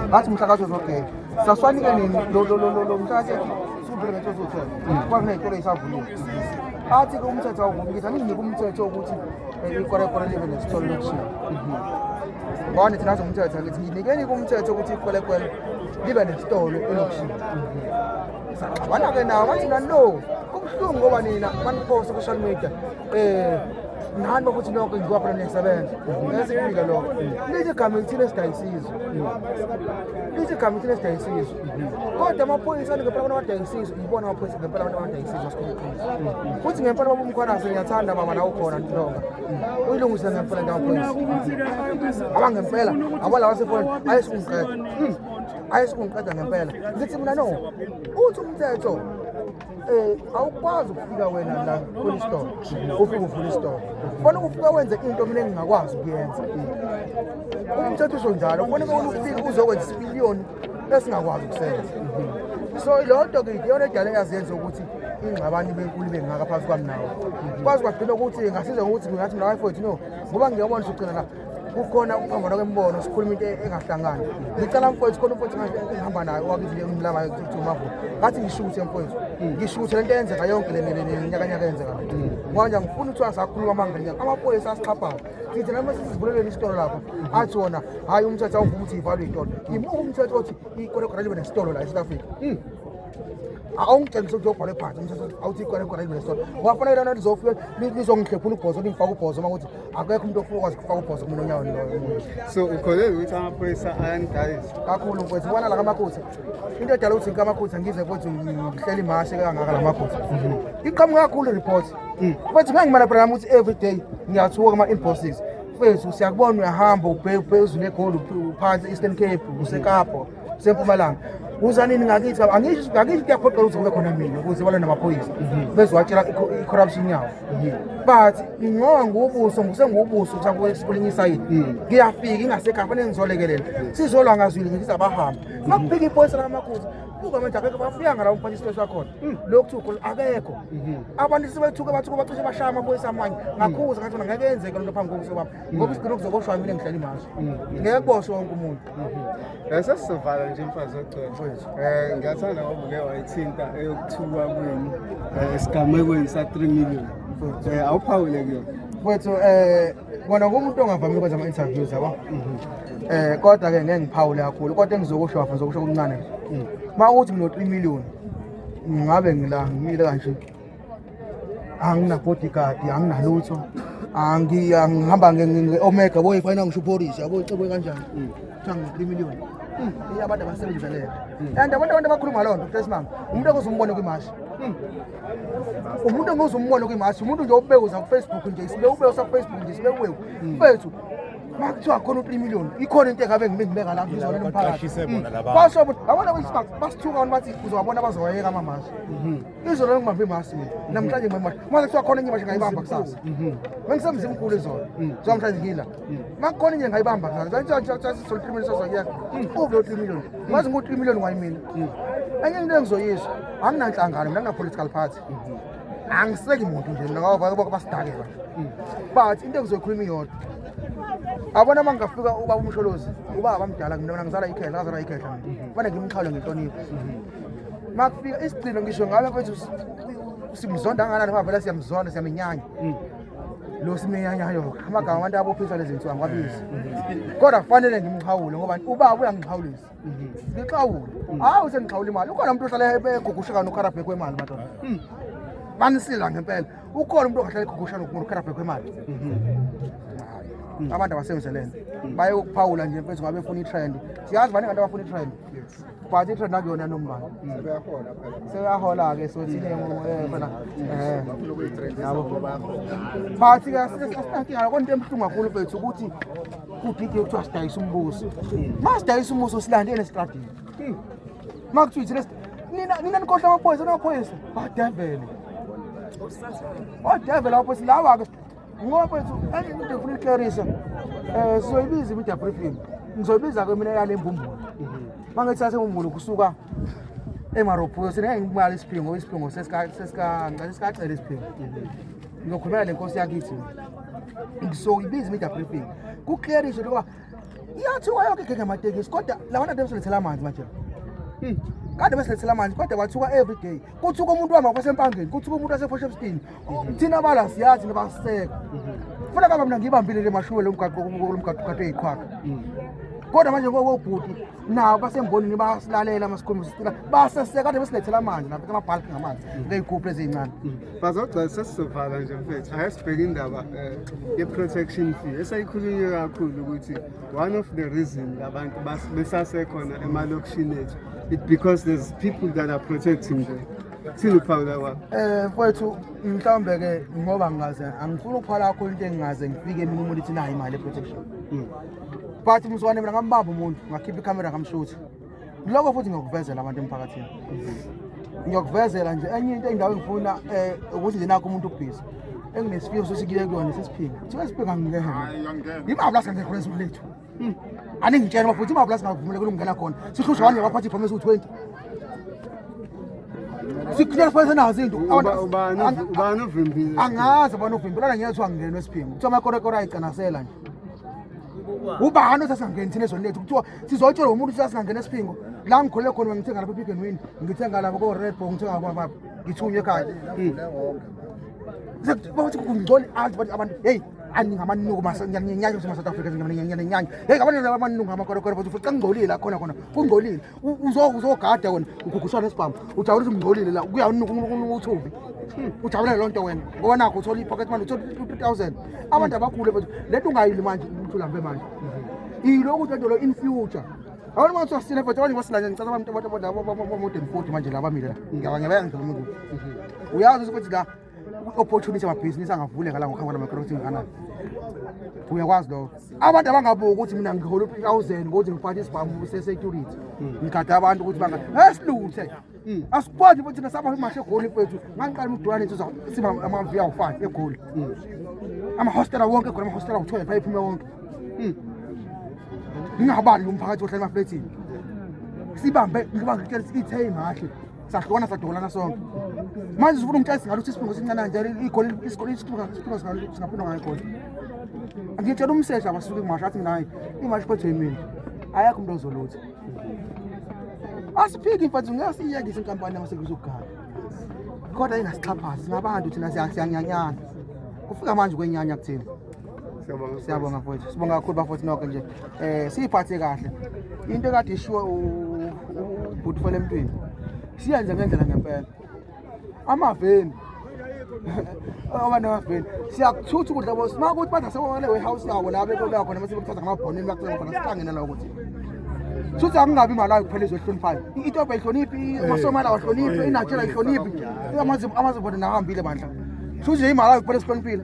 ngathi umhlakathi uzogeka saswanike nini lo mhlakathi sikuphele ngento ezothenga kwakuney'tolo ezisavuliwe athi ke umthetho awuvumi ngithi anginginike umthetho wokuthi eh, ikorekore libe nesitolo lokushiya ngone thina zomthetho ngithi nginikeni kumthetho ukuthi ikwelekwele libe nesitolo elokushiya saxabana-ke nawo bathi nani lo kubuhlungu ngoba nina baniphosa ku-social media eh ngani ukuthi lokho ngiwa khona ngiyasebenza esikufika lokho lithi igama elithile esidayisizwe lithi igama elithile esidayisizwe kodwa amaphoyisa ngempela abantu abadayisizwe ngibona amaphoyisa ngempela abantu abadayisizwe sikhulukhulu futhi ngempela baba umkhwanazi ngiyathanda baba la ukhona ntonga uyilungise ngempela ngamaphoyisa abangempela abalawa sefoni ayesukungiqeda ayesukungiqeda ngempela ngithi mina no uthi umthetho Eh awukwazi ukufika wena la police store. Ufike uvula isitolo. Ufuna ukufika wenze into mina engingakwazi ukuyenza. Umthetho usho njalo. Ufuna ukufika uzokwenza isipiliyoni esingakwazi ukusenza. So lodwa ke iyona edala yazenza ukuthi ingxabano ibe nkulu ibe ngaka phansi kwami nawo. Kwazi kwagcina ukuthi ngasiza ukuthi ngathi mina wife wethu no ngoba ngiyabona sugcina la kukhona ukuphambana kwemibono sikhuluma into engahlangani ngicela mfowethu khona umfowethu ngihamba naye owakizile ngimlaba kuthi umavo ngathi ngishuthe mfowethu ngishuthe lento eyenzeka yonke lenyakanyaka eyenzeka ngoba ngifuna ukuthi asakhuluma amangenya amaphoyisa asixhaphayo sithi noma sisivuleleni isitolo lapho athi wona hhayi umthetho awuvuma ukuthi ivalwe itolo imuka umthetho othi ikolekora libe nesitolo la e-south africa hmm. awungitshengise ukuthi yobhalwe phansi umthetho awuthi ikolekora libe nesitolo wafanele lona lizofike lizongihlephula ubhozo lingifaka ubhozo uma kuthi akekho umuntu ofuna ukwazi ukufaka ubhozo kumuntu onyaweni loyo umuntu so ukholelwa ukuthi amaphoyisa ayanidayisa kakhulu mfowethu ubona la kamakhutha into edala ukuthi ngikamakhutha ngize futhi ngihleli mahashe kangaka la makhutha mhm. iqhamuka kakhulu report mm. futhi ngeke ngimanabhela nami ukuthi every day ngiyathuka kuma-inboxes mfowethu siyakubona uyahamba ubheke phezulu egoli uphansi eastern cape usekapa sempumalanga uzani ningakithi angisho angisho kuyaphoqa ukuthi kube khona mina ukuze balwe namaphoyisa mhm. bezowatshela i-corruption yawo mhm. but ngoba ngubuso ngisengubuso kulinye isayidi mhm. ngiyafika ingasekhaya fanele ngizolekelela sizolwa ngazwile ngithi abahamba ngakubheka iphoyisa lamakhuza buka manje akekho bafuyanga la umphathi isibese wakhona hmm. lokhu thukho akekho abantu sebethuke bathuke bacishe bashaya amaphoyisa amanye hmm. ngakhuza ngathi ngeke yenzeke lento phambi kokuthi baba hmm. ngoba isigcino kuzoboshwa mina ngihlala imashi ngeke kuboshwe wonke umuntu sesizovala nje mfazi ogcwele um ngiyathanda ngoba uke wayithinta eyokuthuka kwenu um esigamekweni sa-three million um awuphawule kuyona kwethu um kona kumuntu ongavamile ukwenza ama-interviews yabo um kodwa-ke ngeke ngiphawule kakhulu kodwa engizokusho wafa ngizokusho kumncane uma ukuthi mina-three million ngabe ngila ngimile kanje angina bodyguard anginalutho angihamba nge-omega boy fayina ngisho uporisi yabo icebwe kanjani kuthiwa ngi-three million iye abantu abasebenzisa leyo and abantu abantu abakhuluma loo nto kutesmama umuntu akuze umbone kwimashi umuntu enguze umbone kwimashi umuntu nje obewuza kufacebook nje sibe ubewusa kufacebook nje sibe uwewu mfethu uma kuthiwa khona u-three million ikhona into engabe ngibe ngibeka la ngizolele umphakathi basho abona basithuka abantu bathi uzowabona bazoyeka amamashi izolo ngibambe imasi mina namhlanje ngibambe imasi mase kuthiwa khona enye imashe ngayibamba kusasa bengisemzini mkhulu izolo kuthiwa mhlanje ngila ma kukhona enye ngayibamba kusasa sasisole three million sazoyeka uvule u-three million ngazi ngu-three million wayimina enye into engizoyisho anginanhlangano mina ngina-political party angiseki muntu nje mina ngabakho basidakela but into engizoyikhuluma iyodwa abona uma ngingafika ubaba umsholozi ubaba bamdala mina mina ngizala ikhehla ngazala ikhehla mina fane ngimxhawule ngenhlonipho makufika isigcino ngisho ngalo kwethu simzonda anganani ngoba vele siyamzonda siyamenyanya mm. lo simenyanyayo amagama abantu abophiswa lezi nsuku angiwabizi kodwa kufanele ngimxhawule ngoba ubaba uyangixhawulisa mm-hmm. ngixhawule mm. hawu sengixhawula imali ukhona umuntu ohlala egugushekana ukharabhekwe kwemali madoda mm. banisila ngempela ukhona umuntu ongahlala egugushana umuntu ukharabhekwe kwemali mm-hmm. abantu abasenzelene baye ukuphawula nje mfethu ngabe funa i-trend siyazi baningi abantu abafuna i-trend but itrend akuyona nombala seyahola-ke sothi fana but ke asinakingala konto ebuhlungu kakhulu bethu ukuthi kudide kuthiwa sidayisa umbuso ma sidayisa umuso silande enestradini ma kuthiwa ithina nina nina nikhohla amaphoyisa namaphoyisa badevele odevele amaphoyisa lawa-ke Ngokwethu enye into efuna ukuklarisa eh sizoyibiza imida briefing. Ngizoyibiza ke mina yale mbumbulu. Mangithathe umbumbulu kusuka emarobhuyo sine imali isiphingo isiphingo sesika sesika ngicela sikacela isiphingo. Ngizokhulumela lenkosi yakithi. Ngizoyibiza imida briefing. Kuklarisa lokuba iyathiwa yonke gege ngamatekisi kodwa lawa nto esolethela amanzi manje. Kade besilethela amanzi kodwa kwathiwa every day. Kuthiwa umuntu wama kwasempangeni, kuthiwa umuntu wasephosha ebustini. thina abala siyazi nabaseko funa baba mina ngiyibambile le mashuwe lo mgaqo lo mgaqo kade eyiqhwaga kodwa manje kobhuti nabo basembonini bayasilalela masikhuluma sicela baseseka kade besilethela amanzi nabo amabhalki ngamanzi ngeyigubhu eziyincane bazogcina sesizovala nje mfethu ake sibheke indaba eh, ye-protection fee eseyikhulunywe kakhulu ukuthi one of the reason abantu besasekhona emalokishini ethu it because there's people that are protecting them Thini ukuphawula kwakho? Eh mfowethu mhlawumbe ke ngoba ngikaze angifuni ukuphawula kakhulu into engingaze ngifike mina umuntu ithi nayo imali protection. Hmm. But mswane mina ngambamba umuntu ngakhipha ikamera ngamshuthi. Lokho futhi ngiyokuvezela abantu emphakathini. Hmm. Ngiyokuvezela nje enye into endawo engifuna eh ukuthi nje nakho umuntu ubhizi. Enginesifiso sokuthi kuyekuyona sesiphinga. Kuthiwa isiphinga ngingehena. Hayi angena. Imabla sengekho leso lethu. Hmm. aningitshela bafuthu imabhula singavumela kulungena khona sihlushwa wanje baphathi ipromise u-twenty sikhulela fanele senazo into ubani uvimbile angazi ubani uvimbile ona ngeke kuthiwa ngingenwe esiphingo kuthiwa amakorekore ayicanasela nje ubani osasingangeni thina ezweni lethu kuthiwa sizoyitshelwa umuntu ukuthi sasingangena esiphingo la ngikhulele khona ngithenga lapha epick and win ngithenga lapha ko-red bo ngithenga kwababa ngithunywe ekhaya hmm. bathi kungcono azi abantu heyi andingamanungu ngiyanyenyanya ukuthi masouth africa ngiyanyenyanya yeyi ngabanye amanungu ngamakorokoro futhi futhi xa ngingcolile la khona khona kungcolile uzogada wena ugugushana esibhamu ujabula ukuthi ngingcolile la kuyanuku uthubi ujabulele loo nto wena ngoba nakho uthola i-pocket manje uthola two thousand abantu abakhule futhi le nto ungayili manje umuntu ulambe manje yiloku lento lo in future abantu manje sasile futhi abanye basilanye ngicela abantu abamodern forty manje la bamile la ngiyabangibeka ngidlala umuntu uyazi ukuthi la kwi-opportunity amabhizinisi angavuleka la ngokhangwa namacross inganani uyakwazi lokho abantu abangabuki ukuthi mina ngihola u-three thousand ngokuthi ngiphathe isibhamu sesecurity ngigade abantu ukuthi banga esiluthe hmm. asikwazi ukuthi thina saba imashe egoli kwethu ngangiqala umdulane nje siba amavi awu-five egoli hmm. amahostela wonke egoli amahostela awu-twelve ayephume wonke hmm. ngingabali umphakathi ohlala emaflethini sibambe ngibangitshela sithi ithe imahle sahlukana sadukulana sonke manje sifuna umtshela singaluthi isibungu sincane nje igoli isigoli isibungu singaphindwa ngayo igoli ngitshela umseshi abasuke imasha athi mina hayi imasha kodwa yimina ayakho umuntu ozolutha asiphiki mfethu ngeke siyiyekise inkampani yamasevisi okugala kodwa ingasixhaphazi singabantu thina siyanyanyana kufika manje kwenyanya kuthina siyabonga mfowethu sibonga kakhulu bafowethu nokho nje um siyiphathe kahle into ekade ishiwo ubhuti fela emntwini siyenze ngendlela ngempela amaveni oba namaveni siyakuthutha ukudla bo uma kuthi bathi asebonele warehouse yawo la bekulwa khona mase bekuthatha ngamabhonini bakucela khona sihlangene la ukuthi suthi akungabi imalayo kuphela izo ehloniphayo itobha ihloniphi amasomala wahloniphi inatshela ihloniphi amazibona nahambile bandla suthi nje imalayo kuphela esihloniphile